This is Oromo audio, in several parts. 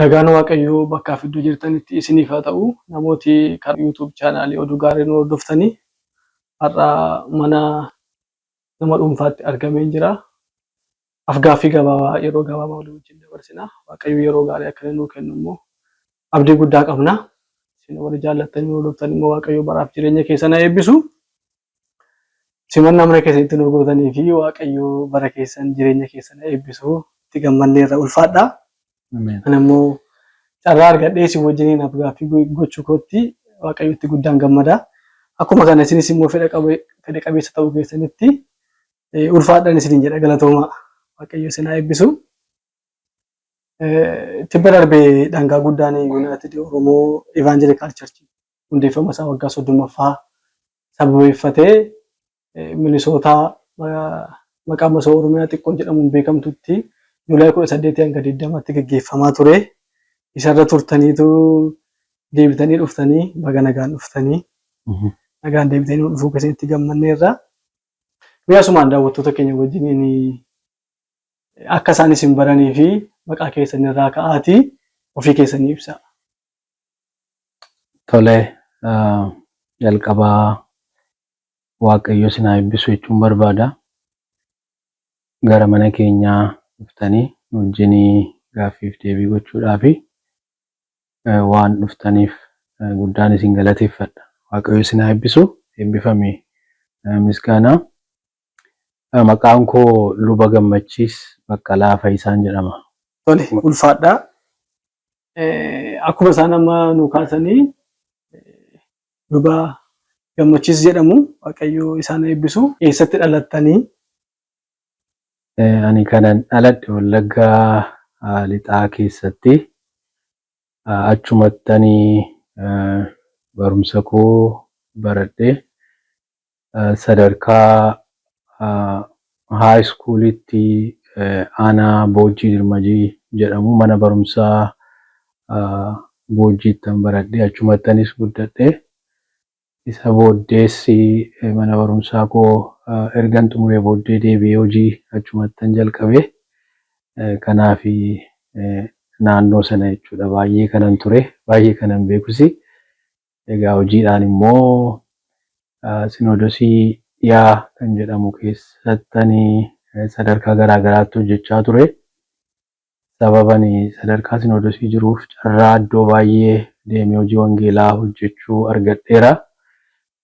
Nagaan waaqayyoo bakkaaf iddoo jirtanitti isiniif haa ta'u namooti karaa YouTube chaanaalii oduu gaarii nu hordoftanii har'a mana nama dhuunfaatti argameen jira. Afgaaffii gabaabaa yeroo gabaabaa walii wajjin dabarsina. Waaqayyo yeroo gaarii akka inni nuu kennu immoo abdii guddaa qabna. Isin warri jaallattan nu hordoftanii immoo waaqayyo baraaf jireenya keessan haa eebbisu. Simannaa mana keessanitti nu gootanii fi Waaqayyo bara keessan jireenya keessan eebbisu itti gammanneerra ulfaadha. Ameen. Ani immoo carraa argadhee isin wajjiniin afgaaffii go- gochuu kootti Waaqayyotti guddaan gammada. Akkuma kana isinis immoo fedha qabe- fedha qabeessa ta'uu keessanitti eh, ulfaadhaan isiniin jedha galatoomaa. Waaqayyo isin haa eebbisu. Eh, Tibba darbe dhangaa guddaan Yuunaayitid Oromoo Evaanjelikaal Charchii hundeeffama isaa waggaa 30ffaa sababeeffatee Minisootaa maqaa masoo Oromiyaa xiqqoo jedhamuun beekamtutti Juulaay 18 hanga 20tti gaggeeffamaa ture. Isarra turtaniitu deebitanii dhuftanii baga nagaan dhuftanii. Nagaan deebitanii nu dhufuu keessanitti gammanneerra. Mee asumaan daawwattoota keenya wajjiniin akka isaan isin baranii fi maqaa keessanirraa ka'aatii ofii keessanii ibsaa. Tole jalqabaa waaqayyo sinaa eebbisu jechuun barbaada. Gara mana keenyaa dhuftanii wajjinii gaaffiif deebii gochuudhaa fi waan dhuftaniif guddaan isin galateeffadha. Waaqayyo sinaa eebbisu eebbifami misgaanaa. Maqaan koo Luba Gammachiis Baqqalaa Fayisaan jedhama. Tole ulfaadhaa akkuma isaan amma nuu kaasanii luba gammachiis jedhamu waaqayyoo isaan eebbisu eessatti dhalattanii? Ani kanan dhaladhe Wallaggaa lixaa keessatti achumattanii barumsa koo baradhe sadarkaa high schoolitti aanaa Boojjii Dirmajii jedhamu mana barumsaa Boojjiittan baradhe. Achumattanis guddadhe. Isa booddees mana barumsaa koo ergan xumuree booddee deebi'ee hojii achumattan jalqabe. Kanaaf naannoo sana jechuudha baay'ee kanan ture, baay'ee kanan beekusi. Egaa hojiidhaan immoo Sinoodosii Dhiyaa kan jedhamu keessatti ani sadarkaa garaa garaatti hojjechaa ture. Sababa ani sadarkaa Sinoodosii jiruuf carraa iddoo baay'ee deemee hojii wangeelaa hojjechuu argadheera.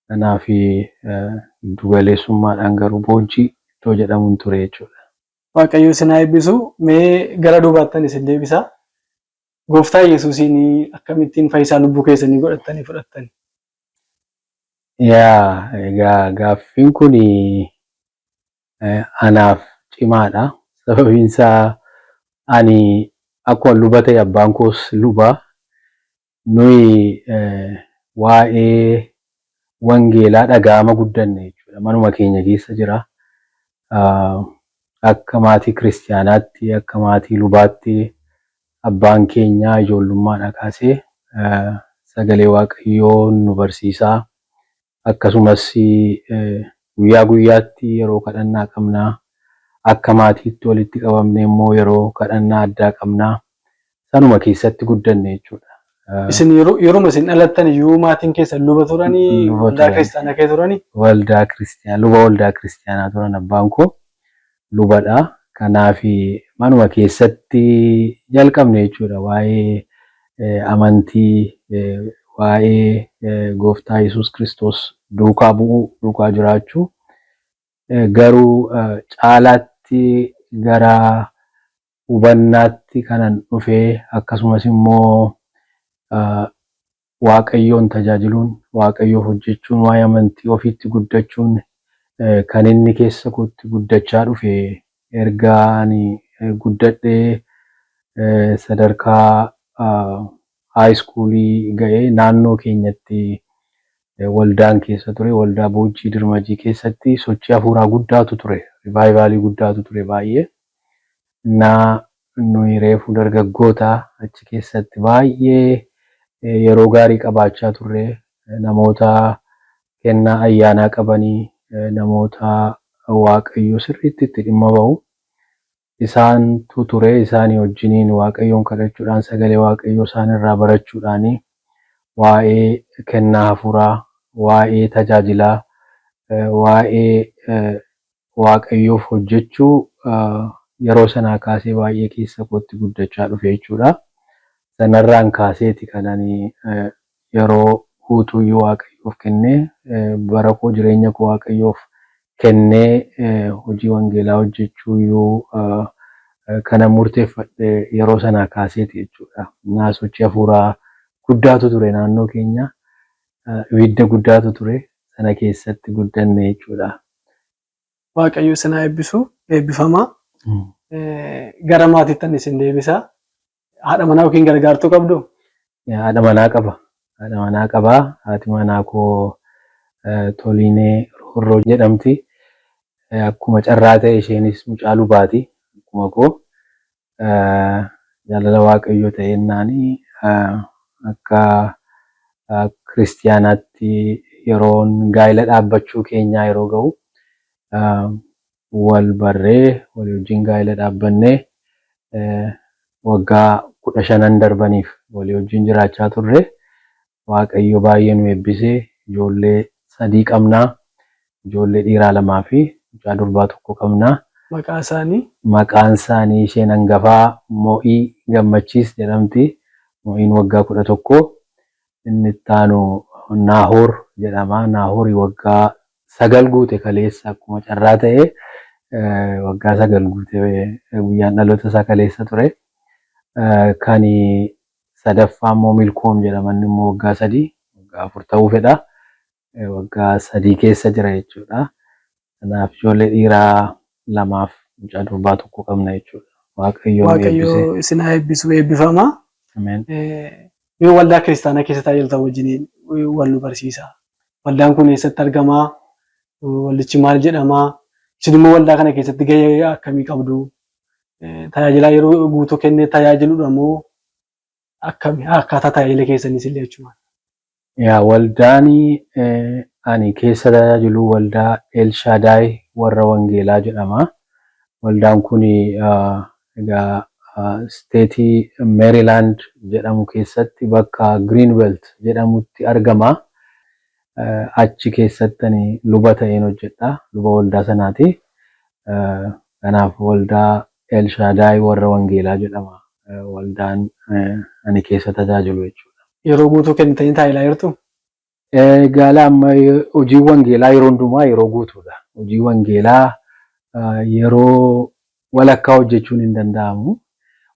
Kanaaf giddu galeessummaadhaan garuu Boojji iddoo jedhamu hin ture jechuudha. Waaqayyo isin haa eebbisu. Mee gara duubaattan isin deebisa. Gooftaa Yesuusiin akkamittiin fayyisaa lubbuu keessanii godhattanii fudhattan? Yaa egaa gaaffiin kun anaaf cimaadha. Sababiin isaa ani akkuma luba ta'e abbaan koos luba. Nuyi waa'ee wangeelaa dhaga'ama guddanne jechuudha. Manuma keenya keessa jira. Akka maatii kiristiyaanaatti, akka maatii lubaatti abbaan keenya ijoollummaadhaa kaasee sagalee waaqayyoo nu barsiisaa. Akkasumas guyyaa guyyaatti yeroo kadhannaa qabna. Akka maatiitti walitti qabamnee immoo yeroo kadhannaa addaa qabna. sanuma keessatti guddanne jechuudha. Isin yeroo yeruma isin dhalattan iyyuu maatiin keessan luba turanii Luba waldaa turan. kiristaanaa kee turanii Waldaa kiristiyaanaa luba waldaa kiristiyaanaa turan abbaan koo lubadha. Kanaaf manuma keessatti jalqabne jechuudha waa'ee eh, amantii eh, waa'ee eh, gooftaa Yesuus Kiristoos duukaa bu'uu duukaa jiraachuu Eh, garuu eh, caalaatti gara hubannaatti kanan dhufe akkasumas immoo waaqayyoon tajaajiluun waaqayyoof hojjechuun waa'ee amantii ofiitti guddachuun kan inni keessa kootti guddachaa dhufe erga ani guddadhee sadarkaa haayi iskuulii ga'ee naannoo keenyatti waldaan keessa ture waldaa boojjii dirmajii keessatti sochii hafuuraa guddaatu ture rivaayivaalii guddaatu ture baay'ee na nuyi reefu dargaggoota achi keessatti baay'ee yeroo gaarii qabaachaa turre namoota kennaa ayyaanaa qabanii namoota waaqayyo sirriitti itti dhimma ba'u isaantu ture isaanii wajjiniin waaqayyoon kadhachuudhaan sagalee waaqayyoo isaan irraa barachuudhaan waa'ee kennaa hafuuraa waa'ee tajaajilaa waa'ee Waaqayyoof hojjechuu yeroo sanaa kaasee baay'ee keessa kootti guddachaa dhufe jechuudha. Sanarraan kaaseeti kan ani yeroo guutuuyyuu Waaqayyoof kennee, bara koo, jireenya koo Waaqayyoof kennee hojii wangeelaa hojjechuuyyuu kanan murteeffadhe yeroo sanaa kaaseeti jechuudha. Innaa sochii hafuuraa guddaatu ture naannoo keenya. Ibidda guddaatu ture. Sana keessatti guddanne jechuudha. Waaqayyo isin haa eebbisu. Eebbifamaa. Gara maatiittan isin deebisa. Haadha manaa yookiin gargaartuu qabdu? Haadha manaa qaba. Haadha manaa qaba. Haati manaa koo Toliinee Roorroo jedhamti. Akkuma carraa ta'e isheenis mucaa lubaati. Akkuma koo Jaalala Waaqayyoo ta'ennaani akka kiristiyaanaatti yeroon gaa'ila dhaabbachuu keenyaa yeroo ga'u wal barree walii wajjin gaa'ila dhaabbannee waggaa kudha shanan darbaniif walii wajjin jiraachaa turre. waaqayyo baay'ee nu eebbise ijoollee sadii qabna ijoollee dhiiraa lamaa fi mucaa durbaa tokko qabna. Maqaa isaanii? Maqaan isaanii isheen angafaa Mo'i Gammachiis jedhamti. Mo'iin waggaa 11. Inni itti aanu Naahoor jedhama. Naahoori waggaa 9 guute kaleessa akkuma carraa ta'e waggaa 9 guute guyyaan dhaloota isaa kaleessa ture. Kan sadaffaa immoo milkoom jedhama inni immoo waggaa sadii waggaa afur ta'uu fedha waggaa sadii keessa jira jechuudha kanaaf ijoollee dhiiraa lamaaf mucaa durbaa tokko qabna jechuudha waaqayyoon waaqayyo eebbise isin haa eebbisu eebbifama ameen Eh, mee waldaa kiristaanaa keessa tajaajiltan wajjiniin eh, wal nu barsiisa waldaan kun eessatti argama Eh, waldichi maal jedhama isin immoo waldaa kana keessatti gahee akkamii qabdu tajaajilaa yeroo guutuu kennee tajaajiludha moo akkami akkaataa tajaajila keessaniis illee jechuudha. Yaa waldaani ani keessa tajaajilu waldaa Elshaadaay warra wangeelaa jedhama. Waldaan kun egaa isteetii Meerilaand jedhamu keessatti bakka Giriinbelt jedhamutti argama. achi keessatti ani luba ta'een hojjedha. Luba waldaa sanaati. Kanaaf waldaa Elshaadaay warra Wangeelaa jedhama. Waldaan ani keessa tajaajilu jechuudha. Yeroo guutuu kennitanii taa'ilaa jirtu? Gaala amma hojiin wangeelaa yeroo hundumaa yeroo guutuudha. Hojii wangeelaa yeroo walakkaa hojjechuun hin danda'amu.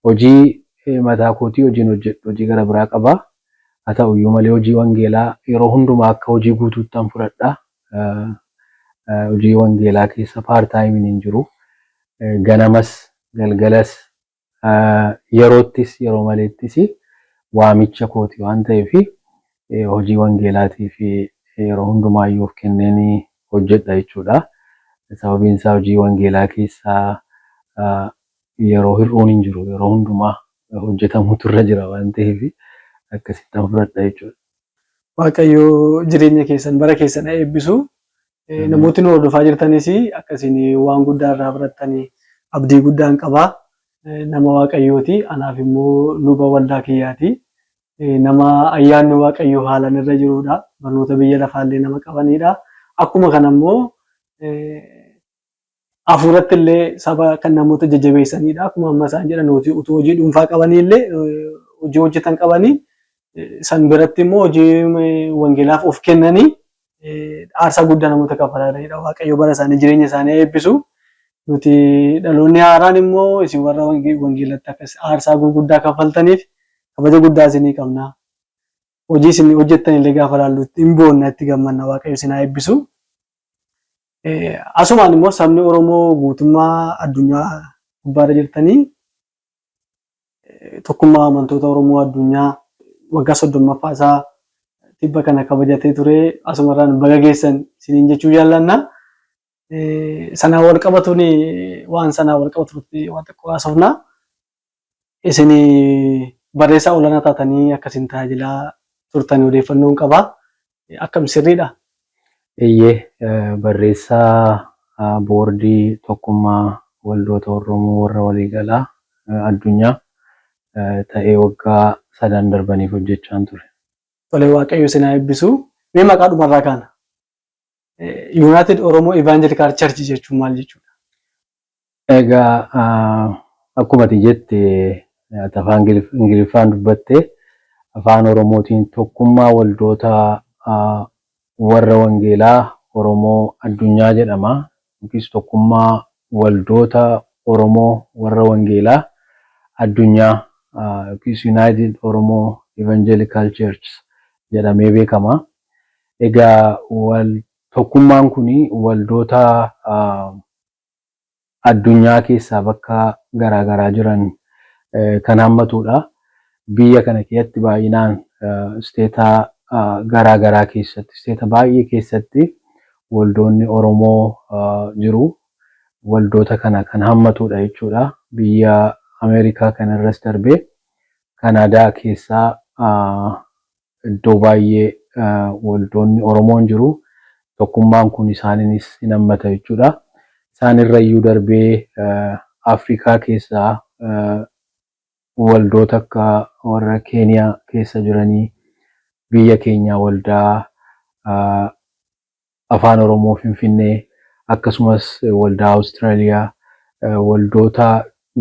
Hojii mataa kootii hojiin hojjedhu hojii gara biraa qaba. Haa ta'u iyyuu malee hojii wangeelaa yeroo hundumaa akka hojii guutuuttan fudhadha. Hojii wangeelaa keessa part time hin jiru. Ganamas galgalas yeroottis yeroo maleettis waamicha kooti waan ta'eef hojii wangeelaatiif yeroo hundumaayyuu of kenneen hojjedha jechuudha. Sababiin isaa hojii wangeelaa keessaa yeroo hir'uun hin jiru. Yeroo hundumaa hojjetamuutu irra jira waan ta'eef akkasittan fudhadha jechuudha. Waaqayyo jireenya keessan bara keessan haa eebbisu. Namootni nu hordofaa jirtanis akka isin waan guddaa irraa barattan abdii guddaan qaba. Nama Waaqayyooti. Anaaf immoo luba waldaa kiyyaati. Nama ayyaanni Waaqayyoo haalan irra jiruudha. Barnoota biyya lafaallee nama qabaniidha. Akkuma kana immoo hafuuratti illee saba kan namoota jajjabeessaniidha. Akkuma amma isaan jedhan utuu hojii dhuunfaa qabanii illee hojii hojjetan qabanii san biratti immoo hojii wangeelaaf of kennanii aarsaa guddaa namoota kafalanidha. Waaqayyo bara isaanii jireenya isaanii eebbisu. Nuti dhaloonni haaraan immoo isin warra wangeelatti akkas aarsaa gurguddaa kaffaltaniif kabaja guddaa isinii qabna. Hojii isin hojjettan illee gaafa ilaallu hin boonna itti gammanna waaqayyo isin haa eebbisu. Asumaan immoo sabni Oromoo guutummaa addunyaa gubbaarra jirtanii Tokkummaa Amantoota Oromoo Addunyaa waggaa 30ffaa isaa tibba kana kabajatee ture asumarraan baga geessan isiniin jechuu jaallanna. Sanaan wal qabatuun waan sanaan wal qabatu irratti waan xiqqoo haasofna. Isin barreessaa olaanaa taatanii akkasiin tajaajilaa turtan odeeffannoon qaba. akkam sirriidha? Eeyyee, barreessaa Boordii Tokkummaa Waldoota Orromoo Warra Waliigalaa Addunyaa ta'ee waggaa sadan darbaniif hojjechaan ture. Tole, Waaqayyo isin haa eebbisu. Mee maqaadhuma irraa kaana. United Oromo Evangelical Church jechuun maal jechuudha? Egaa akkuma ati jette ati afaan ingiliffaan dubbatte afaan oromootiin tokkummaa waldoota warra wangeelaa oromoo addunyaa jedhama yookiis tokkummaa waldoota oromoo warra wangeelaa addunyaa yookiis United Oromo Evangelical Churchs jedhamee beekama. Egaa tokkummaan kun waldoota addunyaa keessaa bakka garaa garaa jiran kan hammatuudha. Biyya kana keessatti baay'inaan isteeta garaa garaa keessatti, isteeta baay'ee keessatti waldoonni Oromoo jiru. Waldoota kana kan hammatuudha jechuudha. Biyya Ameerikaa kanarras darbee Kanaadaa keessaa Iddoo baay'ee waldoonni Oromoon jiru. Tokkummaan kun isaaninis hin hammata jechuudha. Isaan irra iyyuu darbee Afrikaa keessaa waldoota akka warra Keeniyaa keessa jiranii biyya keenyaa waldaa Afaan Oromoo Finfinnee akkasumas Waldaa Awustiraaliyaa, waldoota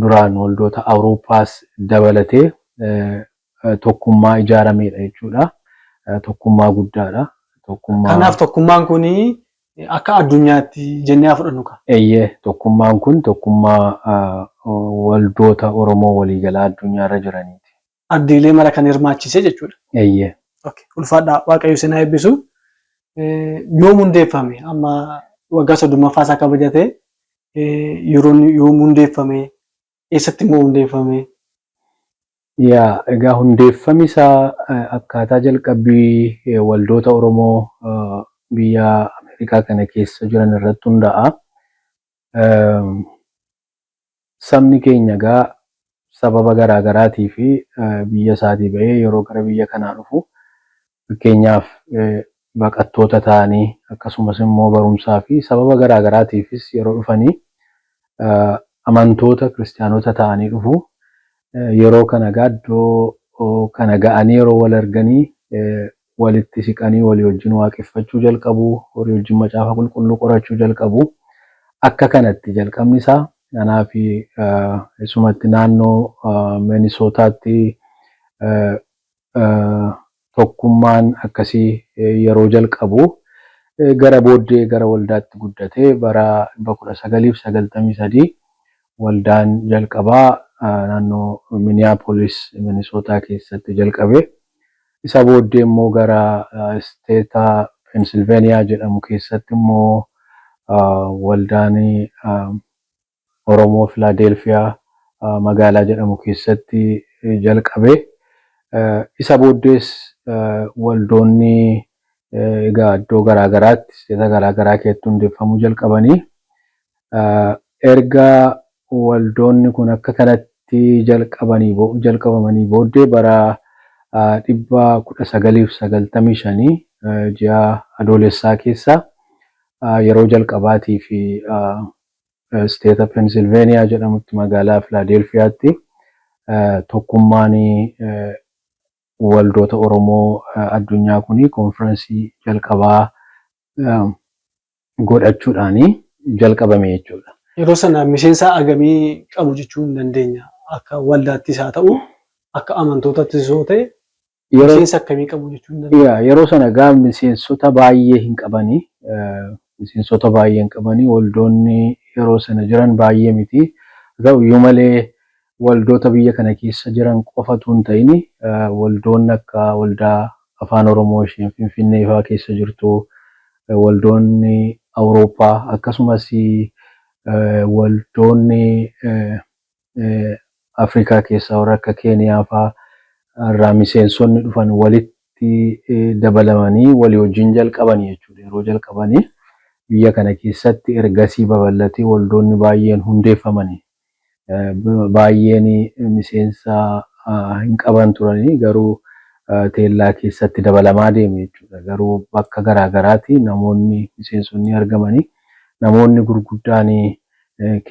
duraan waldoota Awurooppaas dabalatee tokkummaa ijaarameedha jechuudha. Tokkummaa guddaadha. Tokkummaa. Kanaaf tokkummaan kun akka addunyaatti jennee haa fudhannu kaa. Eeyyee tokkummaan kun tokkummaa waldoota Oromoo waliigalaa addunyaarra jiraniiti. ardiilee mara kan hirmaachise jechuudha. Eeyyee. Okay. Ulfaadhaa Waaqayyo isin haa eebbisu. Eh, Yoom hundeeffame amma waggaa soddommaffaa isaa kabajatee eh, yeroon yoom hundeeffame eessatti immoo hundeeffame Yaa egaa hundeeffami isaa eh, akkaataa jalqabbii eh, waldoota Oromoo eh, biyya Ameerikaa kana keessa jiran irratti hundaa'a. Ehm, Sabni keenya egaa sababa garaa garaatiif biyya isaatii ba'ee yeroo gara biyya kanaa dhufu fakkeenyaaf baqattoota ta'anii akkasumas immoo barumsaa fi sababa garaa garaatiifis yeroo dhufanii amantoota kiristiyaanota ta'anii dhufu. Yeroo kana egaa iddoo kana ga'anii yeroo wal arganii walitti siqanii walii wajjin waaqeffachuu jalqabu, horii wajjin Macaafa Qulqulluu qorachuu jalqabu. Akka kanatti jalqabni isaa anaa fi isumatti naannoo Minisootaatti tokkummaan akkasii yeroo jalqabu gara booddee gara waldaatti guddate bara 1993 waldaan jalqabaa naannoo Miniyaapolis Minisootaa keessatti jalqabe. Isa booddee immoo gara isteeta Pensilveeniyaa jedhamu keessatti immoo waldaan Oromoo Filaadeelfiyaa magaalaa jedhamu keessatti jalqabe. Isa booddees waldoonni egaa iddoo garaa garaatti, isteeta garaa garaa keessatti hundeeffamuu jalqabanii Erga waldoonni kun akka kanatti jalqabamanii booddee bara 1995 ji'a Adoolessaa keessa yeroo jalqabaatiif isteeta Pensilveeniyaa jedhamutti magaalaa Filaadeelfiyaatti Tokkummaan Waldoota Oromoo Addunyaa kun konfiransii jalqabaa godhachuudhaan jalqabame jechuudha. Yeroo sana miseensa hagamii qabu jechuu hin dandeenya? Akka waldaattis haa ta'u akka amantootattis yoo ta'e miseensa akkamii qabu jechuu hin dandeenya? Yaa yeroo sana egaa miseensota baay'ee hin qabani. Miseensota baay'ee hin qabani. Waldoonni yeroo sana jiran baay'ee miti. Haa ta'uyyuu malee waldoota biyya kana keessa jiran qofa utuu hin ta'in waldoonni akka waldaa Afaan Oromoo isheen Finfinnee faa keessa jirtu, waldoonni Awurooppaa akkasumas waldoonni Afrikaa keessaa warri akka Keeniyaa faa irraa miseensonni dhufan walitti dabalamanii walii wajjin jalqabani jechuu dha. Yeroo jalqabani biyya kana keessatti ergasii babal'atee waldoonni baay'een hundeeffamani. Baay'een miseensa hin qaban turanii garuu teellaa keessatti dabalamaa deeme jechuudha. Garuu bakka garaa garaati namoonni miseensonni argamanii namoonni gurguddaan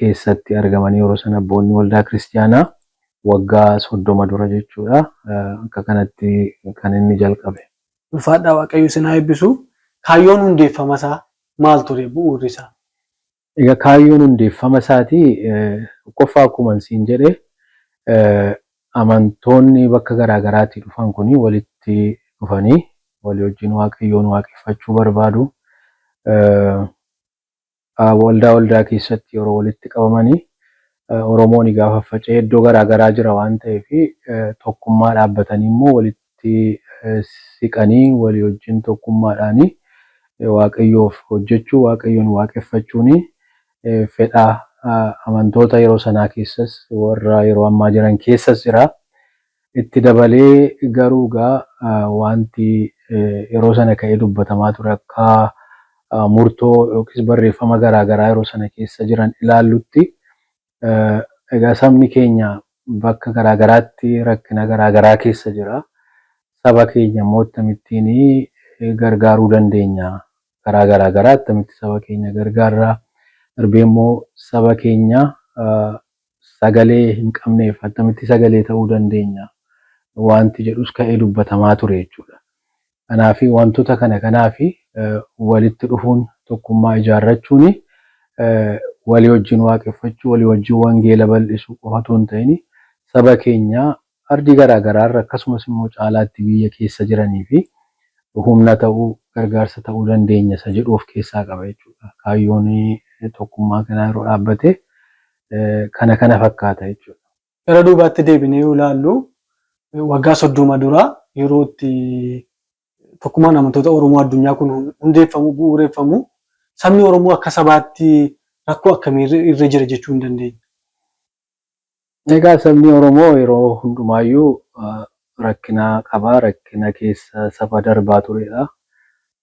keessatti argamanii yeroo sana abboonni waldaa kiristiyaanaa waggaa soddoma dura jechuudha akka kanatti kan inni jalqabe. Ulfaadhaa waaqayyo isin haa eebbisu. Kaayyoon hundeeffamasaa maal ture? Bu'uurrisaa? Egaa kaayyoon hundeeffama isaatii tokkoffaa akkuman siin jedhe amantoonni bakka garaa garaatii dhufan kuni walitti dhufanii walii wajjin waaqayyoon waaqeffachuu barbaadu. Waldaa waldaa keessatti yeroo walitti qabamanii Oromooni gaafa faca'ee iddoo garaa garaa jira waan ta'eef tokkummaa dhaabbatanii immoo walitti walitti siqanii walii wajjin tokkummaadhaan Waaqayyoof hojjechuu, Waaqayyoon waaqeffachuun fedha amantoota yeroo sanaa keessas warra yeroo ammaa jiran keessas jira. Itti dabalee garuu egaa wanti yeroo sana ka'ee dubbatamaa ture akka murtoo yookiis barreeffama garaa garaa yeroo sana keessa jiran ilaallutti Egaa sabni keenya bakka garaa garaatti rakkina garaa garaa keessa jira. Saba keenya immoo akkamittiin gargaaruu dandeenya? Karaa garaa garaa akkamitti saba keenya gargaarra? Darbee immoo saba keenya sagalee hin qabneef akkamitti sagalee ta'uu dandeenya? Waanti jedhus ka'ee dubbatamaa ture jechuudha. Kanaafi, wantoota kana kanaafi walitti dhufuun, tokkummaa ijaarrachuun, walii wajjin waaqeffachuu, walii wajjin wangeela bal'isuu qofa utuu hin ta'in, saba keenya ardii garaa garaa irra akkasumas immoo caalaatti biyya keessa jiraniif humna ta'uu, gargaarsa ta'uu dandeenya isa jedhu of keessaa qaba jechuu dha. Kaayyoon tokkummaa kanaa yeroo dhaabbate kana kana fakkaata jechuu dha. gara duubaatti deebinee yoo ilaallu waggaa soddoma dura yeroo itti tokkummaan amantoota Oromoo addunyaa kun hundeeffamu bu'uureffamu sabni Oromoo akka sabaatti rakkoo akkamii irra jira jechuu hin dandeenya. Egaa sabni Oromoo yeroo hundumaayyuu rakkina qaba. Rakkina keessa saba darbaa turedha.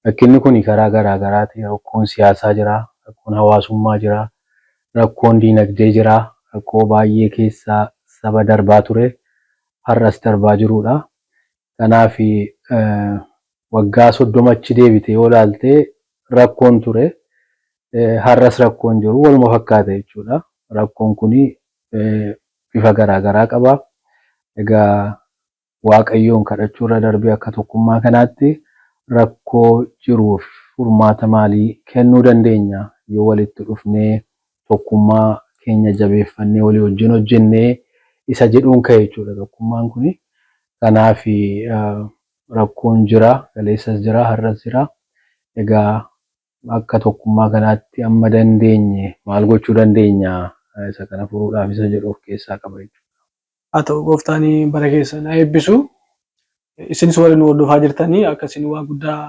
Rakkinni kuni karaa garaa garaati. Rakkoon siyaasaa jira, rakkoon hawaasummaa jira, rakkoon diinagdee jira, rakkoo baay'ee keessa saba darbaa ture, har'as darbaa jiruudha. Kanaaf waggaa 30 achi deebitee yoo ilaalte rakkoon ture, har'as rakkoon jiru waluma fakkaata jechuudha. Rakkoon kuni bifa garaa garaa qaba. Egaa Waaqayyoon kadhachuu irra darbee akka tokkummaa kanaatti rakkoo jiruuf furmaata maalii kennuu dandeenya? Yoo walitti dhufnee tokkummaa keenya jabeeffannee walii wajjin hojjennee isa jedhuun ka'e jechuudha tokkummaan kuni. Kanaaf rakkoon jira, kaleessas jira, har'as jira. Egaa Akka tokkummaa kanaatti amma dandeenye maal gochuu dandeenya? Isa kana furuudhaaf isa jedhu of keessaa qaba jechuudha. Haa ta'u gooftaan bara keessan haa eebbisu. Isinis warri nu hordofaa jirtan akka isin waa guddaa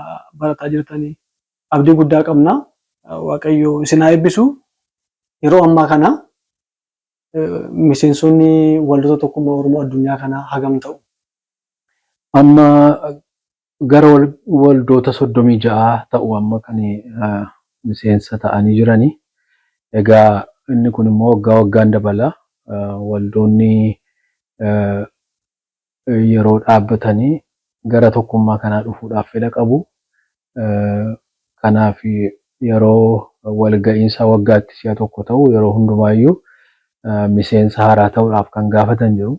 barataa jirtan abdii guddaa qabna. Waaqayyo isin haa eebbisu. Yeroo ammaa kana miseensonni waldoota tokkummaa Oromoo addunyaa kanaa hagam ta'u? Amma Gara waldoota 36 ta'u amma kan miseensa ta'anii jirani. Egaa inni kun immoo waggaa waggaan dabala. Waldoonni yeroo dhaabbatani gara tokkummaa kanaa dhufuudhaaf fedha qabu. Kanaaf yeroo walga'iinsa waggaatti si'a tokko ta'u yeroo hundumaayyuu miseensa haaraa ta'uudhaaf kan gaafatan jiru.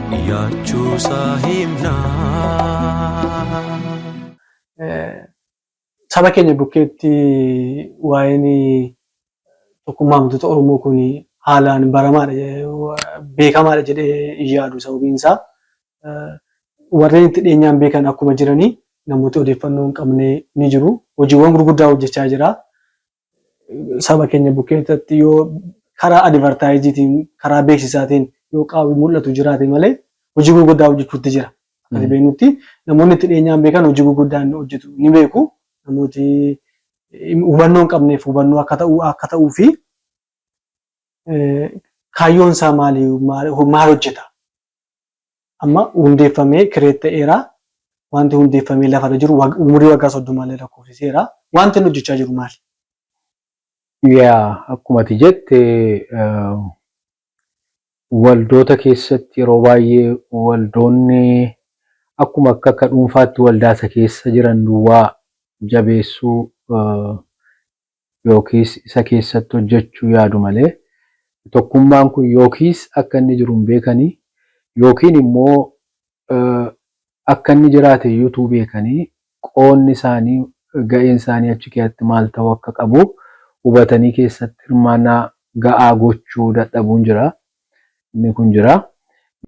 Yaachuusaa himnaa. Saba keenya bukkeetti waa'een tokkummaa amantoota Oromoo kun haalaan baramaadha beekamaadha jedhee hin yaadu. Sababiin isaa warreen itti dhiyeenyaan beekan akkuma jiranii namooti odeeffannoo hin qabne ni jiru. Hojiiwwan gurguddaa hojjechaa jira. saba keenya bukkeessatti yoo karaa adivartaayiziitiin karaa beeksisaatiin yoo qaawwi mul'atu jiraate malee hojii gurguddaa hojjechuutti jira. Akkati beeknutti namoonni itti dhiyeenyaan beekan hojii gurguddaa inni hojjetu ni beeku. Namooti hubannoo hin qabneef hubannoo akka ta'u akka ta'uu fi kaayyoon isaa maali maal hojjeta amma hundeeffamee kireet ta'eera. Wanti hundeeffamee lafarra jiru umurii waggaa soddomaallee lakkoofsiseera. Wanti inni hojjechaa jiru maali? Yaa akkuma ati jette waldoota keessatti yeroo baay'ee waldoonni akkuma akka akka dhuunfaatti waldaasa keessa jiran duwwaa jabeessuu yookiis isa keessatti hojjechuu yaadu malee, tokkummaan kun yookiis akka inni jiru hin beekanii, yookiin immoo akka inni jiraate iyyuu utuu beekanii qoodni isaanii, ga'een isaanii achi keeatti maal ta'uu akka qabu hubatanii keessatti hirmaannaa ga'aa gochuu dadhabuun jira. Inni kun jira.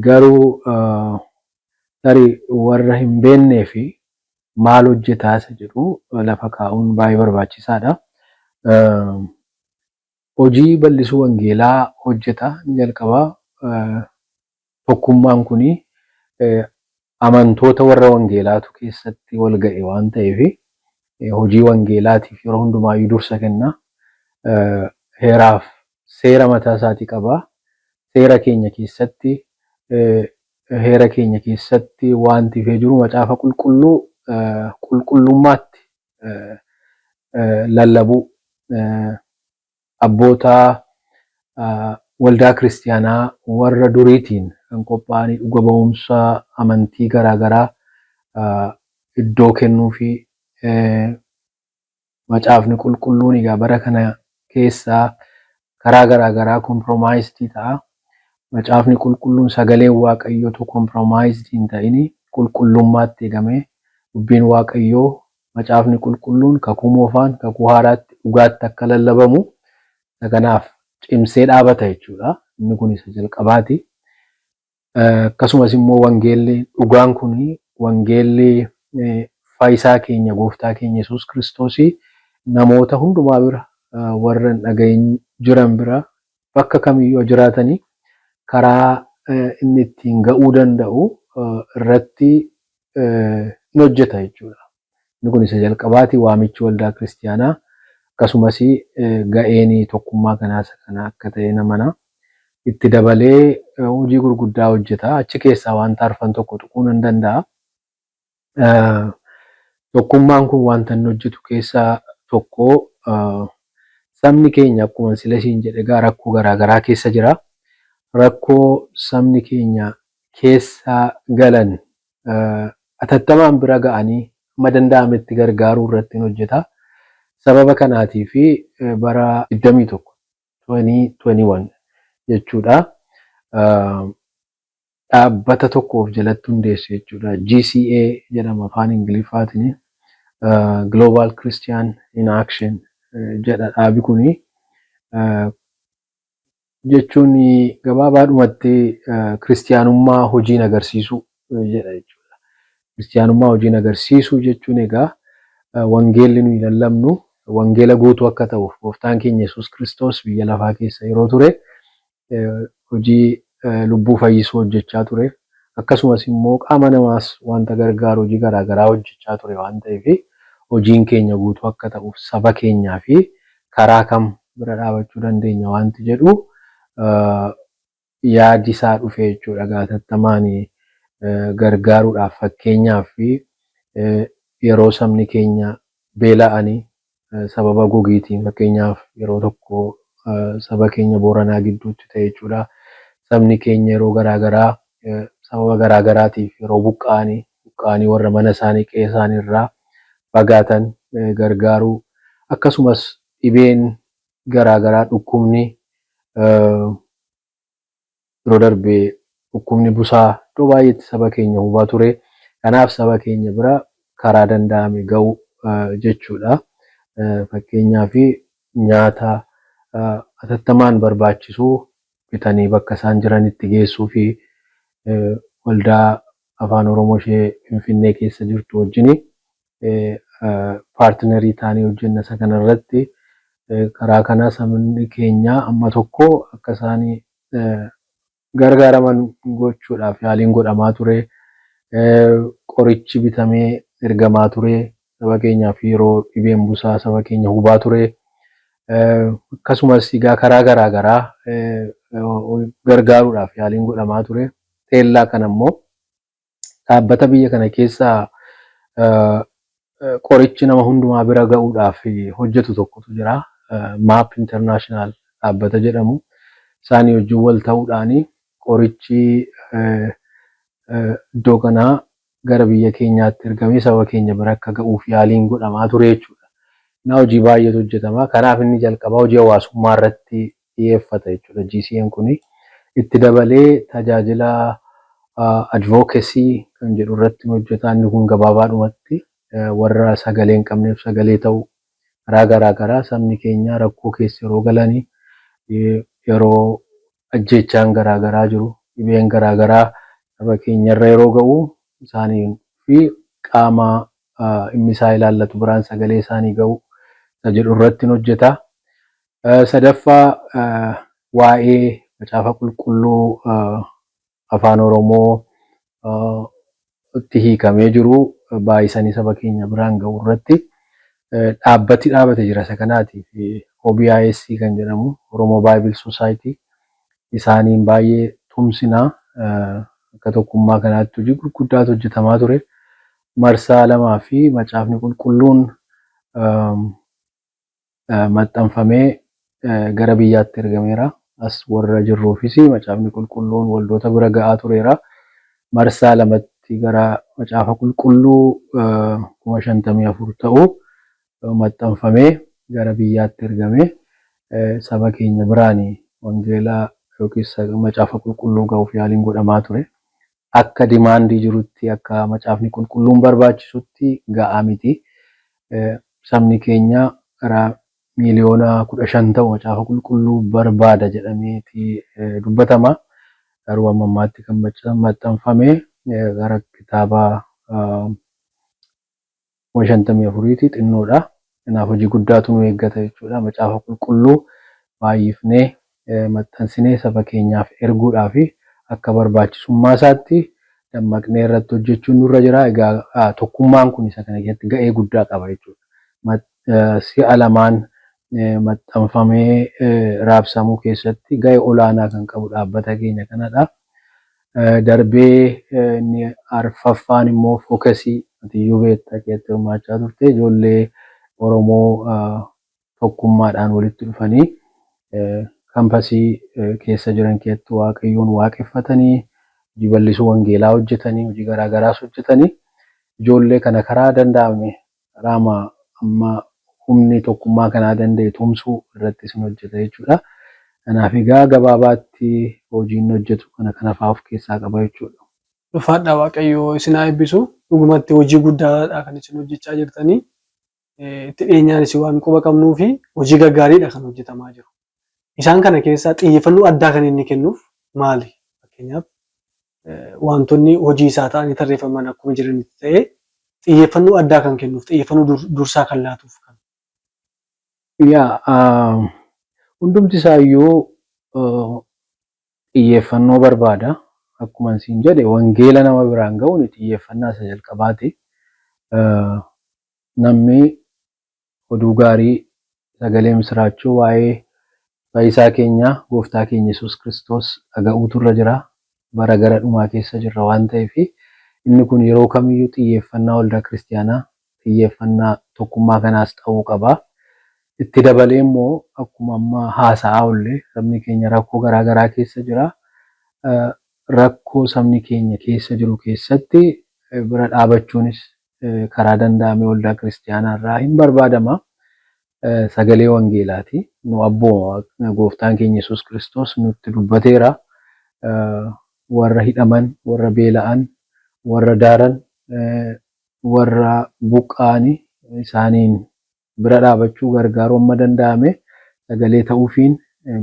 Garuu tarii warra hin beeknee fi maal hojjetaa isa jedhu lafa kaa'uun baay'ee barbaachisaadha. Hojii bal'isuu wangeelaa hojjeta ni jalqaba. Tokkummaan kun amantoota warra wangeelaatu keessatti wal ga'e waan ta'eef hojii wangeelaatiif yeroo hundumaayyuu dursa kenna. Heeraaf seera mataa isaatii qaba. Seera keenya keessatti Heera keenya keessatti waanti ifee jiru Macaafa Qulqulluu qulqullummaatti lallabuu, abboota waldaa kiristiyaanaa warra duriitiin kan qophaa'anii dhuga ba'umsa amantii garaa garaa iddoo kennuufii, Macaafni Qulqulluun egaa bara kana keessa karaa garaa garaa compromised ta'a. Macaafni Qulqulluun sagaleen Waaqayyoo utuu compromised hin ta'ini qulqullummaatti eegamee dubbiin Waaqayyoo Macaafni Qulqulluun Kakuu Moofaan Kakuu Haaraatti dhugaatti akka lallabamu isa kanaaf cimsee dhaabata jechuudha. Inni kun isa jalqabaati. Akkasumas immoo wangeelli dhugaan kun wangeelli faayisaa keenya gooftaa keenya Yesuus Kiristoosii namoota hundumaa bira warra hin dhagahin jiran bira bakka kamiyyuu haa jiraatani karaa inni ittiin ga'uu danda'u irratti in hojjeta jechuudha. Inni kun isa jalqabaati. Waamichi waldaa kiristiyaanaa akkasumas ga'een tokkummaa kanaa isa kana akka ta'een amana. Itti dabalee hojii gurguddaa hojjeta. Achi keessaa wanta arfan tokko tuquu nan danda'a. Tokkummaan kun wanta inni hojjetu keessaa tokko sabni keenya akkuma sila isiin jedhe egaa rakkoo garaa garaa keessa jira. Rakkoo sabni keenya keessa galan atattamaan bira ga'anii hamma danda'ametti gargaaruu irrattin hojjeta. Sababa kanaatiif bara 21, 2021, jechuudha dhaabbata tokko of jalatti hundeesse jechuudha. GCA jedhama afaan Ingiliffaatiin. Global Christian in Action jedha dhaabi kuni. jechuun gabaabaadhumatti Kiristiyaanummaa hojiin agarsiisuu jedha jechuudha. Kiristiyaanummaa hojiin agarsiisuu jechuun egaa wangeelli nuyi lallabnu wangeela guutuu akka ta'uuf gooftaan keenya Yesuus Kiristoos biyya lafaa keessa yeroo ture hojii lubbuu fayyisuu hojjechaa ture. Akkasumas immoo qaama namaas wanta gargaaru hojii garaa garaa hojjechaa ture waan ta'eef hojiin keenya guutuu akka ta'uuf saba keenyaa fi karaa kam bira dhaabachuu dandeenya waanti jedhu yaadi isaa dhufe jechuudha. Egaa hatattamaan gargaaruudhaaf fakkeenyaaf yeroo sabni keenya beela'ani sababa gogiitiin fakkeenyaaf yeroo tokko saba keenya Booranaa gidduutti ta'e jechuudha. Sabni keenya yeroo garaa garaa sababa garaa garaatiif yeroo buqqa'ani, buqqa'anii warra mana isaanii, qe'ee isaanii irraa fagaatan gargaaruu, akkasumas dhibeen garaa garaa dhukkubni yeroo darbe dhukkubni busaa iddoo baay'eetti saba keenya hubaa ture. Kanaaf saba keenya bira karaa danda'ame ga'uu jechuudha. Fakkeenyaaf nyaata atattamaan barbaachisu bitanii bakka isaan jiranitti geessuu fi waldaa Afaan Oromoo ishee Finfinnee keessa jirtu wajjin paartinarii taanee hojjenna. Isa kana irratti karaa kanaa sabni keenya amma tokko akka isaan gargaaraman gochuudhaaf yaaliin godhamaa ture. Qorichi bitamee ergamaa ture. saba keenyaaf yeroo dhibeen busaa saba keenya hubaa ture. Akkasumas egaa karaa garaa garaa gargaaruudhaaf yaaliin godhamaa ture. Teellaa kana immoo dhaabbata biyya kana keessa qorichi nama hundumaa bira ga'uudhaaf hojjetu tokkotu jira. Maap Internaashinaal dhaabbata jedhamu. Isaanii wajjin wal ta'uudhaan qorichi iddoo kanaa gara biyya keenyaatti ergamee saba keenya bira akka ga'uuf yaaliin godhamaa ture jechuudha. Innaa hojii baay'eetu hojjetama. Kanaaf inni jalqabaa hojii hawaasummaa irratti xiyyeeffata jechuudha GCAn kuni. Itti dabalee tajaajila advocacy kan jedhu irratti ni hojjeta. Inni kun gabaabaadhumatti warra sagalee hin qabneef sagalee ta'u karaa garaa garaa sabni keenya rakkoo keessa yeroo galani yeroo ajjeechaan garaa garaa jiru, dhibeen garaa garaa saba keenyarra yeroo ga'u isaanii fi qaama dhimmi isaa ilaallatu biraan sagalee isaanii ga'uu isa jedhu irrattin hojjeta. Sadaffaa waa'ee macaafa qulqulluu Afaan Oromoo tti hiikamee jiru baay'isanii saba keenya biraan ga'uu irratti dhaabbati dhaabate jira. Isa kanaatiif OBIS kan jedhamu, Oromo Bible Society, isaaniin baay'ee tumsina. Akka tokkummaa kanaatti hojii gurguddaatu hojjetamaa ture. Marsaa lamaa fi Macaafni Qulqulluun maxxanfamee gara biyyaatti ergameera. As warra jirruufis Macaafni Qulqulluun waldoota bira ga'aa tureera. Marsaa lamatti gara Macaafa Qulqulluu kuma shantamii afur ta'u maxxanfamee gara biyyaatti ergame. Saba keenya biraan wangeela yookiis Macaafa Qulqulluu ga'uuf yaaliin godhamaa ture. akka demand jirutti akka macaafni qulqulluun barbaachisutti ga'aa miti. Sabni keenya gara miiliyoona 15 ta'u macaafa qulqulluu barbaada jedhameeti dubbatama. Garuu amma ammaatti kan maxxanfame gara kitaaba kuma shantamii afuriiti, xinnoodha. Kanaaf hojii guddaatu nu eeggata jechuudha. Macaafa Qulqulluu baay'ifnee maxxansinee saba keenyaaf erguudhaaf akka barbaachisummaasaatti dammaqnee irratti hojjechuun nurra jira. Egaa tokkummaan kun isa kana keessatti ga'ee guddaa qaba jechuudha. Si'a lamaan maxxanfamee raabsamuu keessatti ga'e olaanaa kan qabu dhaabbata keenya kanadha. Darbee inni arfaffaan immoo fokesii atiyyuu beekta keessatti hirmaachaa turte ijoollee Oromoo tokkummaadhaan walitti dhufanii kampasii keessa jiran keessatti waaqayyoon waaqeffatanii hojii bal'isuu wangeelaa hojjetanii hojii garaa garaas hojjetanii ijoollee kana karaa danda'ame Raama amma humni tokkummaa kanaa danda'e tumsuu irratti sin hojjeta jechuudha. Kanaaf egaa gabaabaatti hojii inni hojjetu kana kana fa'aa of keessaa qaba jechuudha. Ulfaadhaa Waaqayyo isin haa eebbisu. Dhugumatti hojii guddaadha kan isin hojjechaa jirtanii. Itti dhiyeenyaanis waan quba qabnuufi hojii gaggaariidha kan hojjetamaa jiru. Isaan kana keessaa xiyyeeffannoo addaa kan inni kennuuf maali? Fakkeenyaaf wantoonni hojii isaa ta'anii tarreeffaman akkuma jiranitti ta'ee xiyyeeffannoo addaa kan kennuuf, xiyyeeffannoo dur- dursaa kan laatuuf kan. Yaa ah, hundumti isaayyuu eh, xiyyeeffannoo barbaada. Akkuma isin jedhe wangeela nama biraan ga'uun xiyyeeffannaa isa jalqabaati. Eh, Namni Oduu gaarii, sagalee misiraachoo waa'ee Fayyisaa keenya Gooftaa keenya Yesuus Kiristoos dhaga'uutu irra jira. Bara gara dhumaa keessa jirra waan ta'eef, inni kun yeroo kamiyyuu xiyyeeffannaa Waldaa Kiristiyaanaa, xiyyeeffannaa tokkummaa kanaas ta'uu qaba. Itti dabalee immoo akkuma amma haasa'aa oolle sabni keenya rakkoo garaa garaa keessa jira. Rakkoo sabni keenya keessa jiru keessatti bira dhaabachuunis karaa danda'ame waldaa kiristiyaanaa irraa hin barbaadama. Sagalee wangeelaati. Nu abbooma. Gooftaan keenya Yesuus Kiristoos nutti dubbateera. Warra hidhaman, warra beela'an, warra daaran, warra buqqa'ani isaaniin bira dhaabachuu gargaaruu amma danda'ame sagalee ta'uufiin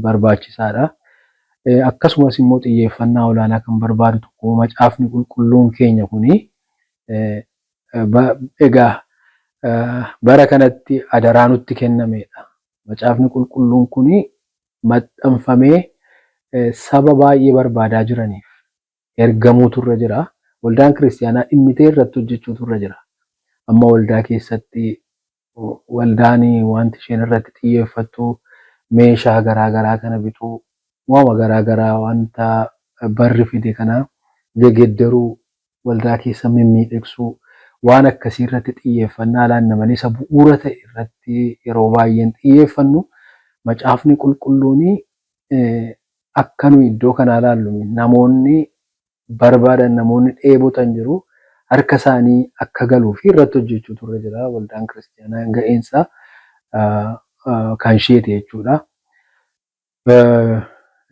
barbaachisaadha. Akkasumas immoo xiyyeeffannaa olaanaa kan barbaadu tokko macaafni qulqulluun keenya kuni egaa bara kanatti adaraa nutti kennameedha. Macaafni qulqulluun kuni maxxanfamee saba baay'ee barbaadaa jiraniif ergamuutu irra jira. Waldaan kiristiyaanaa dhimmitee irratti hojjechuutu irra jira. Amma waldaa keessatti waldaan wanti isheen irratti xiyyeeffattu meeshaa garaa garaa kana bituu, waama garaa garaa wanta barri fide kana gegeddaruu, waldaa keessa mimmiidhegsuu waan akkasii irratti xiyyeeffannaa laanna malee isa bu'uura ta'e irratti yeroo baay'ee hin xiyyeeffannu. Macaafni qulqulluun akka nuyi iddoo kanaa ilaallu miti. Namoonni barbaadan, namoonni dheebotan jiru. Harka isaanii akka galuu fi irratti hojjechuutu irra jira. Waldaan Kiristiyaanaa ga'een isaa kan isheeti jechuudha.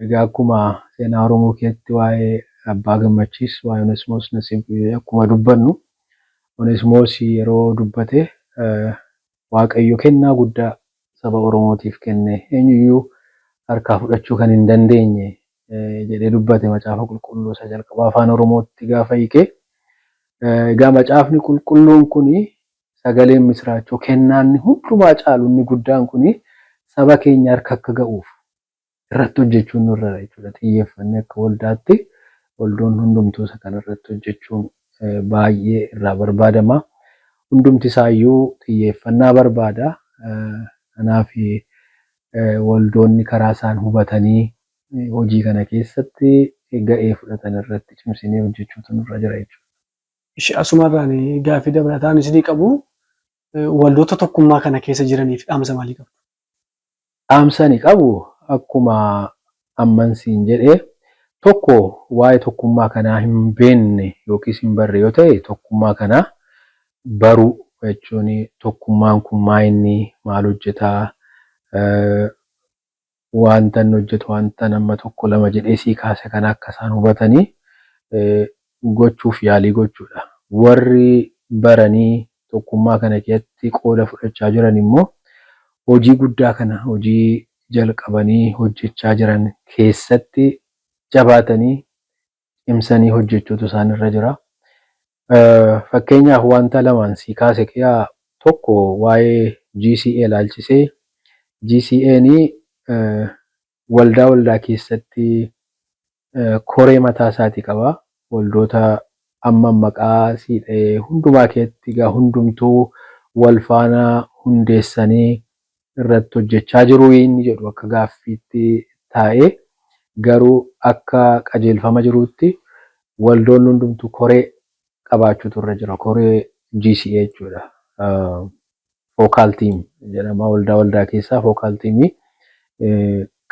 Egaa akkuma seenaa Oromoo keessatti waa'ee Abbaa Gammachiis, waa'ee Onesmoos Nasib akkuma dubbannu Onesmoos yeroo dubbate Waaqayyo kennaa guddaa saba Oromootiif kenne eenyuyyuu harkaa fudhachuu kan hin dandeenye jedhee dubbate Macaafa Qulqulluu isa jalqabaa Afaan Oromootti gaafa hiike. Egaa Macaafni Qulqulluun kun sagaleen misiraachoo kennaa inni hundumaa caalu inni guddaan kun saba keenya harka akka ga'uuf irratti hojjechuun nurra jira jechuudha. Xiyyeeffannee akka waldaatti waldoonni hundumtuu isa kana irratti hojjechuun baay'ee irraa barbaadama. Hundumti isaayyuu xiyyeeffannaa barbaada. Kanaaf waldoonni karaa isaan hubatanii hojii kana keessatti ga'ee fudhatan irratti cimsinee hojjechuutu nurra jira jechuudha. Ishi asumarraan gaaffii dabalataan isinii qabu waldoota tokkummaa kana keessa jiraniif dhaamsa maalii qabdu? Dhaamsa ani qabu akkuma amman siin jedhe tokko waa'ee tokkummaa kanaa hin beekne yookiis hin barre yoo ta'e tokkummaa kana baruu jechuun tokkummaan kun maayinni maal hojjeta waantan hojjetu waantan amma tokko lama jedhee sii kaase kana akka isaan hubatanii gochuuf yaalii gochuudha. Warri baranii tokkummaa kana keessatti qooda fudhachaa jiran immoo hojii guddaa kana hojii jalqabanii hojjechaa jiran keessatti jabaatanii cimsanii hojjechuutu isaan irra jira. Fakkeenyaaf wanta lamaan sii kaase keessaa tokko waa'ee GCA ilaalchisee GCAn Waldaa waldaa keessatti koree mataa isaati qaba. Waldoota amman maqaa sii dhahe hundumaa keetti egaa hundumtuu wal faana hundeessanii irratti hojjechaa jiruu inni jedhu akka gaaffiitti taa'e. Garuu akka qajeelfama jiruutti waldoonni hundumtuu koree qabaachuutu irra jira. Koree GCA jechuudha. Focal team jedhama. Waldaa waldaa keessaa focal team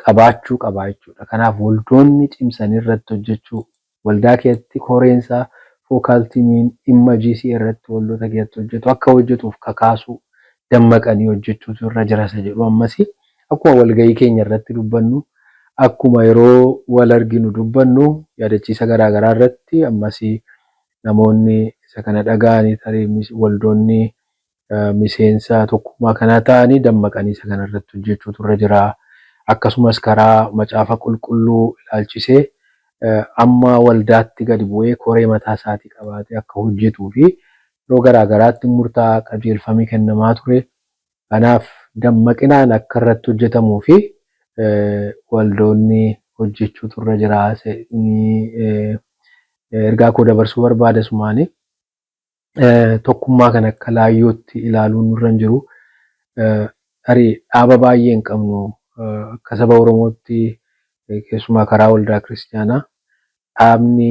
qabaachuu qaba jechuudha. Kanaaf waldoonni cimsanii irratti hojjechuu waldaa keessatti koreensaa focal teamiin dhimma GCA irratti waldoota keessatti hojjetu akka hojjetuuf kakaasuu dammaqanii hojjechuutu irra jirasa jedhu ammasii. Akkuma walga'ii keenya irratti dubbannu, akkuma yeroo wal arginu dubbannu, yaadachiisa garaa garaa irratti ammas namoonni isa kana dhaga'anii tarii waldoonni miseensa tokkummaa kanaa ta'anii dammaqanii isa kana irratti hojjechuutu irra jira. Akkasumas karaa macaafa qulqulluu ilaalchisee amma waldaatti gadi bu'ee koree mataa isaatii qabaatee akka hojjetuu fi yeroo garaa garaatti murtaa'aa qajeelfamii kennamaa ture Kanaaf dammaqinaan akka irratti hojjetamuu fi waldoonni hojjechuutu irra jira jedhee ergaa koo dabarsuu barbaada. Asumaani tokkummaa kana akka laayyootti ilaaluun nurra hin jiru. Tarii dhaaba baay'ee hin qabnu. Akka saba Oromootti keessumaa karaa waldaa kiristiyaanaa dhaabni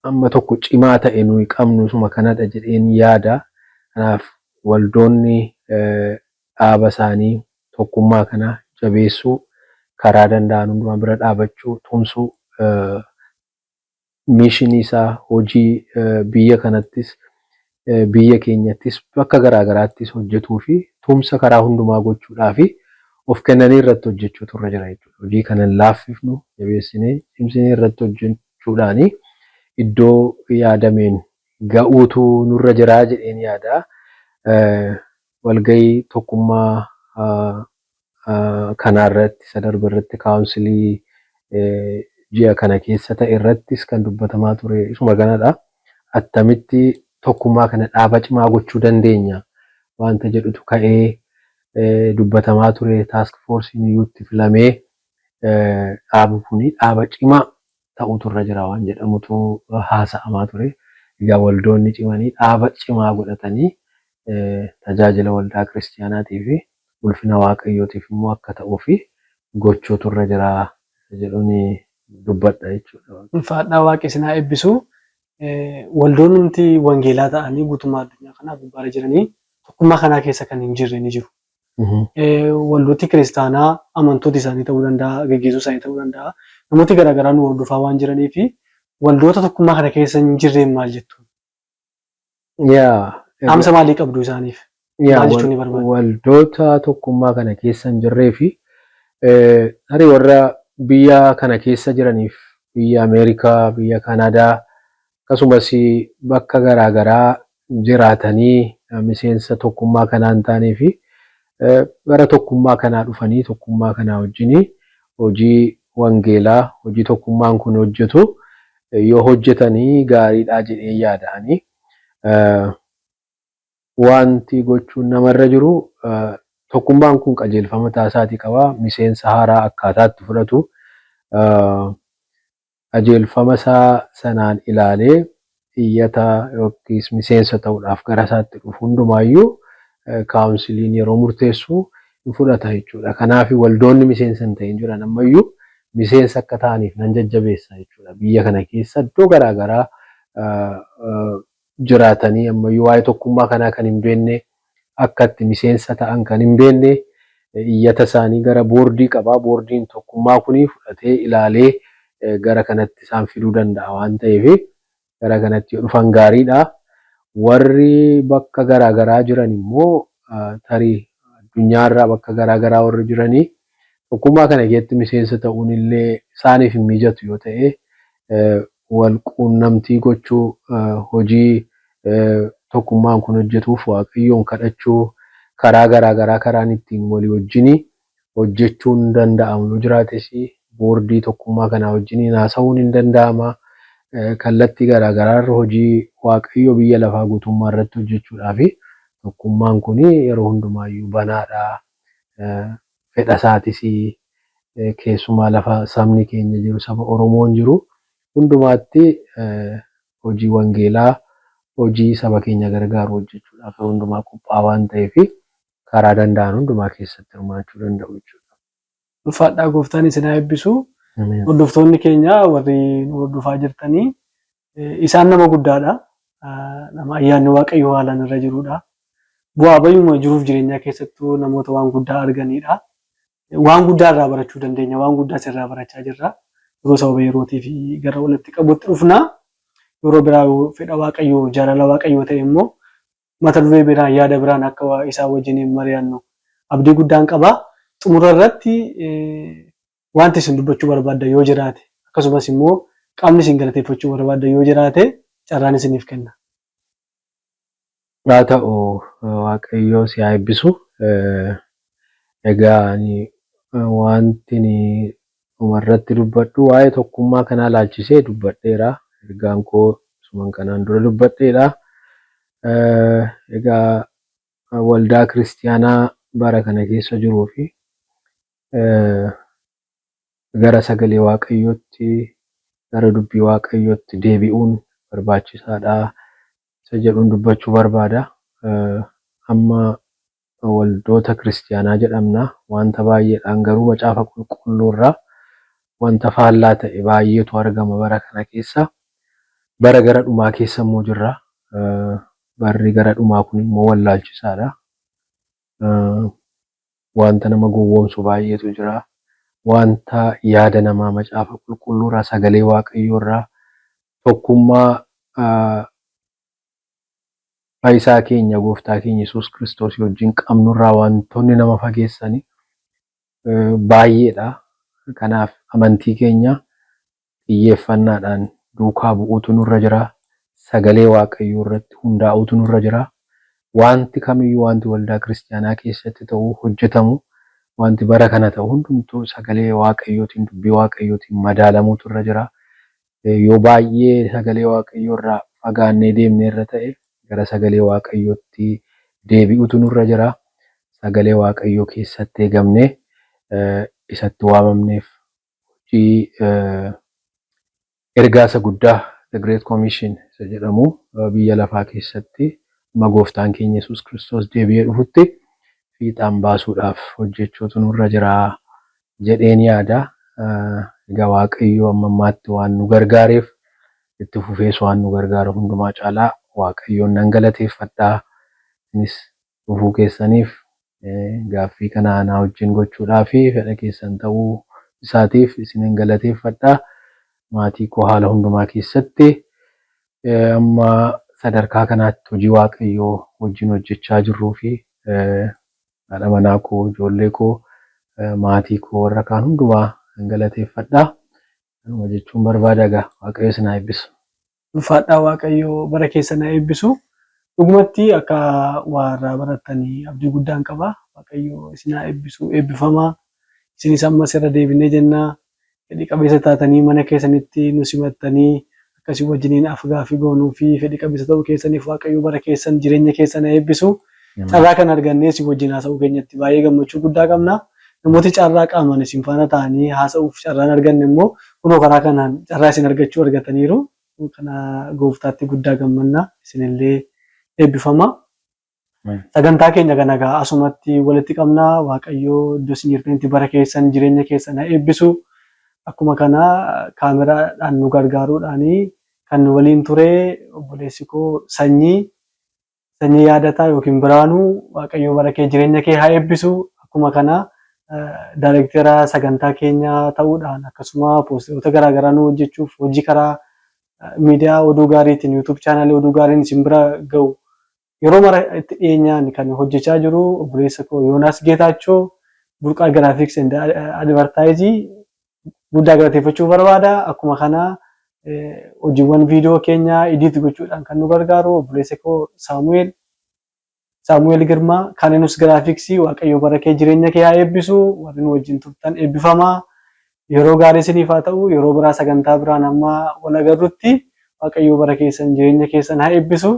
amma tokko cimaa ta'e nuyi qabnu isuma kanadha jedheen yaada. Kanaaf waldoonni dhaaba isaanii tokkummaa kana jabeessuu, karaa danda'an hundumaa bira dhaabachuu, tumsuu, miishinii isaa hojii biyya kanattis biyya keenyattis bakka garaa garaattis hojjetuufi tumsa karaa hundumaa gochuudhaaf of kennanii irratti hojjechuutu irra jira jechuudha. Hojii kana hin laaffifnu, jabeessinee, cimsinee irratti hojjechuudhaan iddoo yaadameen ga'uutu nurra jira jedheen yaada. Walga'ii tokkummaa kanaa irratti isa darbe irratti kaawunsilii ji'a kana keessa ta'e irrattis kan dubbatamaa ture isuma kanadha. Attamitti tokkummaa kana dhaaba cimaa gochuu dandeenya wanta jedhutu ka'ee dubbatamaa ture. Taask foorsiin iyyuu itti filamee dhaabi kun dhaaba cimaa ta'uutu irra jira waan jedhamutu haasa'amaa ture. Egaa waldoonni cimanii dhaaba cimaa godhatanii tajaajila waldaa kiristiyaanaatii fi ulfina Waaqayyootiif immoo akka ta'uu fi gochuutu irra jira isa jedhuun dubbadha jechuudha. Ulfaadhaa waaqi isin haa eebbisu. Waldoonnumti wangeelaa ta'anii guutummaa addunyaa kanaa gubbaarra jiranii tokkummaa kanaa keessa kan hin jirre ni jiru. Waldooti kiristaanaa amantoota isaanii ta'uu danda'a, geggeessuu isaanii ta'uu danda'a. Namooti gara garaa nu hordofaa waan jiraniif waldoota tokkummaa kana keessa hin jirreen maal jettu? Dhaamsa maalii qabdu isaaniif? Maal jechuun ni barbaaddu? Waldoota tokkummaa kana keessa hin jirree fi tarii warra biyya kana keessa jiraniif biyya Ameerikaa, biyya Kanaadaa, akkasumas bakka garaa garaa jiraatanii miseensa tokkummaa kanaa hin taanee fi gara tokkummaa kanaa dhufanii tokkummaa kanaa wajjin hojii wangeelaa, hojii tokkummaan kun hojjetu yoo hojjetan gaariidha jedheen yaada ani. Wanti gochuun namarra jiru tokkummaan kun qajeelfama mataa isaatii qaba. Miseensa haaraa akkaataa itti fudhatu, qajeelfamasaa sanaan ilaalee iyyata yookiis miseensa ta'uudhaaf garasaatti dhufu hundumaayyuu kaawunsiliin yeroo murteessu hin fudhata jechuudha. Kanaafi waldoonni miseensa hin ta'in jiran ammayyuu miseensa akka ta'aniif nan jajjabeessa jechuudha. Biyya kana keessa iddoo garaa garaa jiraatanii ammayyuu waa'ee tokkummaa kanaa kan hin beekne, akka itti miseensa ta'an kan hin beekne iyyata isaanii gara boordii qaba. Boordiin tokkummaa kuni fudhatee ilaalee gara kanatti isaan fiduu danda'a waan ta'eef gara kanatti yoo dhufan gaariidha. Warri bakka garaa garaa jiran immoo tarii addunyaarraa bakka garaa garaa warri jiranii Tokkummaa kana keessatti miseensa ta'uun illee isaaniif hin mijatu yoo ta'e, wal quunnamtii gochuu, hojii tokkummaan kun hojjetuuf Waaqayyoon kadhachuu, karaa garaa garaa karaan ittiin walii wajjin hojjechuun danda'amu yoo jiraates boordii tokkummaa kanaa wajjin haasa'uun hin danda'ama. Kallattii garaa garaa irra hojii Waaqayyoo biyya lafaa guutummaa irratti hojjechuudhaaf tokkummaan kun yeroo hundumaayyuu banaadha. fedha isaatis keessumaa lafa sabni keenya jiru, saba Oromoon jiru hundumaatti hojii wangeelaa, hojii saba keenya gargaaru hojjechuudhaaf yeroo hundumaa qophaa'aa waan ta'eef karaa danda'an hundumaa keessatti hirmaachuu danda'u jechuudha. Ulfaadhaa gooftaan isin haa eebbisu. Ameen. Hordoftoonni keenya warri nu hordofaa jirtanii eh, isaan nama guddaadha. Ah, Nama ayyaanni Waaqayyoo haalaan irra jirudha. Bu'aa bayyuma jiruuf jireenyaa keessattuu namoota waan guddaa arganidha. Waan guddaa irraa barachuu dandeenya. Waan guddaa sirraa barachaa jirra. Yeroo sababa yerootiif gara walitti qabutti dhufna. Yeroo biraa yoo fedha Waaqayyoo, jaalala Waaqayyoo ta'e immoo mata duree biraan, yaada biraan akka isaan wajjiniin mari'annu abdii guddaan qaba. Xumura irratti wanti isin dubbachuu barbaaddan yoo jiraate, akkasumas immoo qaamni isin galateeffachuu barbaaddan yoo jiraate carraan isiniif kenna. Haa ta'u, Waaqayyo si haa eebbisu. Egaa ani wantin Dhumarratti dubbadhu waa'ee tokkummaa kanaa ilaalchisee dubbadheera. Ergaan koo isuman kanaan dura dubbadheedha. Egaa waldaa kiristiyaanaa bara kana keessa jiruu fi gara sagalee waaqayyootti gara dubbii waaqayyootti deebi'uun barbaachisaadha isa jedhuun dubbachuu barbaada. Amma Nu waldoota Kiristiyaanaa jedhamna, wanta baay'eedhaan garuu Macaafa Qulqulluurraa wanta faallaa ta'e baay'eetu argama bara kana keessa. Bara gara dhumaa keessa immoo jirra. Barri gara dhumaa kun immoo wallaalchisaadha. Wanta nama gowwoomsu baay'eetu jira. Wanta yaada namaa Macaafa Qulqulluurraa, Sagalee Waaqayyoorraa, tokkummaa Fayisaa keenya Gooftaa keenya Yesuus Kiristoosii wajjin qabnurraa wantoonni nama fageessani baay'eedha. Kanaaf amantii keenya xiyyeeffannaadhaan duukaa bu'uutu nurra jira. Sagalee Waaqayyoo irratti hundaa'uutu nurra jira. Wanti kamiyyuu wanti waldaa kiristiyaanaa keessatti ta'u, hojjetamu, wanti bara kana ta'u hundumtuu sagalee Waaqayyootiin, dubbii Waaqayyootiin madaalamuutu irra jira. Yoo baay'ee sagalee Waaqayyoo irraa fagaannee deemne irra ta'e gara sagalee Waaqayyootti deebi'utu nurra jira. Sagalee Waaqayyoo keessatti eegamnee isatti waamamneef hojii ergaa isa guddaa The Great Commission isa jedhamu biyya lafaa keessatti amma gooftaan keenya Yesuus Kiristoos deebi'ee dhufutti fiixaan baasuudhaaf hojjechuutu nurra jira jedheen yaada. Egaa Waaqayyo amma ammaatti waan nu gargaareef itti fufees waan nu gargaaru hundumaa caalaa Waaqayyoon nan galateeffadha. Isinis dhufuu keessaniif gaaffii kana anaa wajjin gochuudhaa fi fedha keessan ta'uu isaatiif isinan galateeffadha. Maatii koo haala hundumaa keessatti amma sadarkaa kanaatti hojii Waaqayyoo wajjin hojjechaa jirruu fi haadha manaa koo, ijoollee koo, maatii koo warra kaan hundumaa nan galateeffadha. Kanuma jechuun barbaada egaa Waaqayyo isin haa eebbisu. Ulfaadhaa Waaqayyo bara keessan haa eebbisu. Dhugumatti akka waa irraa barattan abdii guddaan qaba. Waaqayyo isin haa eebbisu. Eebbifamaa. Isinis ammas irra deebinee jenna. fedhi qabeessa taatanii mana keessanitti nu simattanii akka isin wajjiniin af-gaaffii goonuu fi fedhi qabeessa ta'uu keessaniif Waaqayyo bara keessan, jireenya keessan haa eebbisu. Carraa kana argannee isin wajjin haasa'uu keenyatti baay'ee gammachuu guddaa qabna. Namooti carraa qaamaan isin faana taa'anii haasa'uuf carraa hin arganne immoo kunoo karaa kanaan carraa isin argachuu argataniiru. Kana Gooftaatti guddaa gammanna. Isin illee eebbifamaa. Sagantaa keenya kana egaa asumatti walitti qabna. Waaqayyo iddoo isin jirtanitti bara keessan, jireenya keessan haa eebbisu. Akkuma kana kaameraadhaan nu gargaaruudhaan kan nu waliin ture obboleessi koo Sanyii, Sanyii Yaadataa yookiin Biraanuu Waaqayyo bara kee jireenya kee haa eebbisu. Akkuma kana daayirektera sagantaa keenyaa ta'uudhaan akkasuma poosteroota garaagaraa nu hojjechuuf hojii karaa miidiyaa oduu gaariitiin YouTube chaanaalii oduu gaariin isin bira ga'u yeroo mara itti dhiyeenyaan kan hojjechaa jiru obboleessa koo Yoonaas Geetaachoo burqaa giraafiks and advartaayizii guddaa galateeffachuu barbaada. Akkuma kana hojiiwwan viidiyoo keenyaa idiit gochuudhaan kan nu gargaaru obboleessa koo Saamu'eel Saamu'eel Girmaa, Kaninus Graphics, Waaqayyoo bara kee jireenya kee haa eebbisu, warri nu wajjin turtan eebbifamaa, yeroo gaarii isiniif haa ta'u, yeroo biraa sagantaa biraan hamma wal agarrutti Waaqayyoo bara keessan jireenya keessan haa eebbisu.